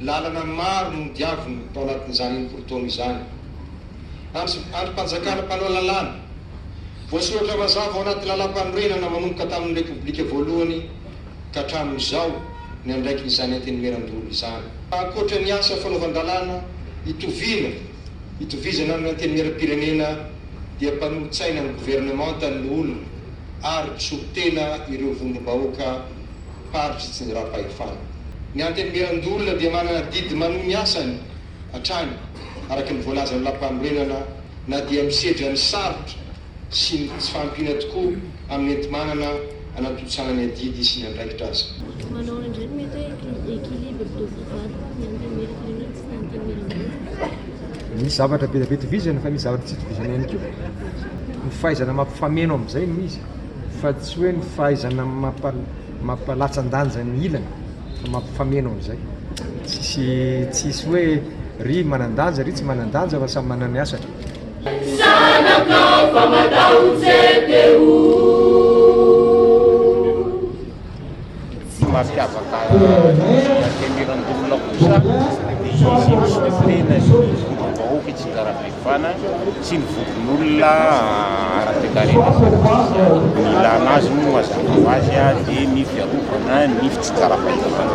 Lalana maro no nodiaviny tao anatin'izany enimpolo taona izany. Andry Andrim-panjakana mpanao lalàna. Voasoratra mazava ao anaty Lalàmpanorenana manomboka tamin'ny Repoblika voalohany ka hatramin'izao ny andraikin'izany Antenimierandoholona izany. Ankoatra ny asa fanaovan-dalàna itoviana itovizana amin'ny Antenimieram-pirenena dia mpanolotsaina ny governemanta ny loholona ary mpisolo tena ireo vondrom-bahoaka faritry tsy niraha-pahefana. Ny Antenimierandoholona dia manana adidy manohy ny asany hatrany araka ny voalazan'ny lampanorenana na dia misedra ny sarotra sy ny tsy fahampiana tokoa amin'ny enti-manana anatontosana ny adidy sy ny andraikitra aza. Manaona indray no mety hoe équilibre de vie valo ny Antenimierampirenena sy ny Antenimierandoholona? Misy zavatra be dia be itovizana fa misy zavatra tsy itovizana ihany koa. Ny fahaizana mampifameno amin'izay no izy. fa tsy hoe ny fahaizana mampalatsa-danja ny ilany fa mampifameno amin'izay. Tsisy tsisy hoe ry manan-danja ry tsy manan-danja fa samy manana ny asany. Zanakao fa matahotra e Téo. Tsy mampiavaka ny Antenimierandoholona kosa ny fitenenan'ny vondrom-bahoaka i Tsinjarabeivana sy ny vondron'olona ara-toekarena sy ara-tsosialy. Ny ilàna azy moa mazava ho azy dia ny fiarovana ny fitsinjaram-pahefana.